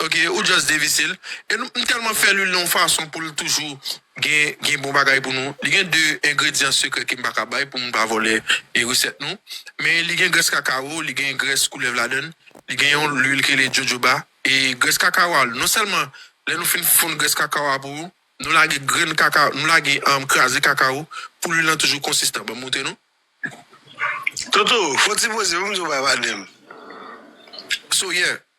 Ok ou just devise l. E nou m telman fè lwil nan yon fason poul toujou gen gen bon bagay pou nou. Li gen 2 engredyan sekrè kem paka bay pou moun pa vòlè e resèt nou. Men li gen grès kakawo, li gen grès koulèv ladann, li gen yon lwil ki rele jojoba e grès kakawo a non sèlman lè nou fin fonn grès kakawo a pou nou lage grenn kaka nou lage kraze kakawo pou lwil lan toujou konsistan. Banm montre nou. Toto, fon ti poze pou m di w bay pa de m. So yeah.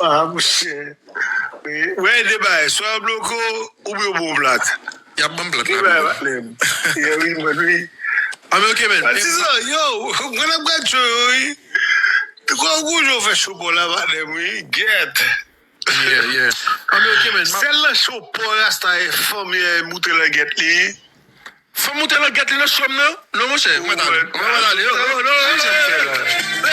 Haa mouche Wi de bagay swa yo bloke w oubyen yo bon plat Yap banm plat la pito Yè wi mwen wi An men ok men Patizan yow mwen ap gad show yo wi Ti kòw gou jan w fè show paw la padem wi Gyèt Yeah yeah An men ok men Sèl nan show paw rasta fanm yè moute langyèt li Fanm moute langyèt li nan show m nan non monchè mwen ta ale mwen ta ale oh oh non non non.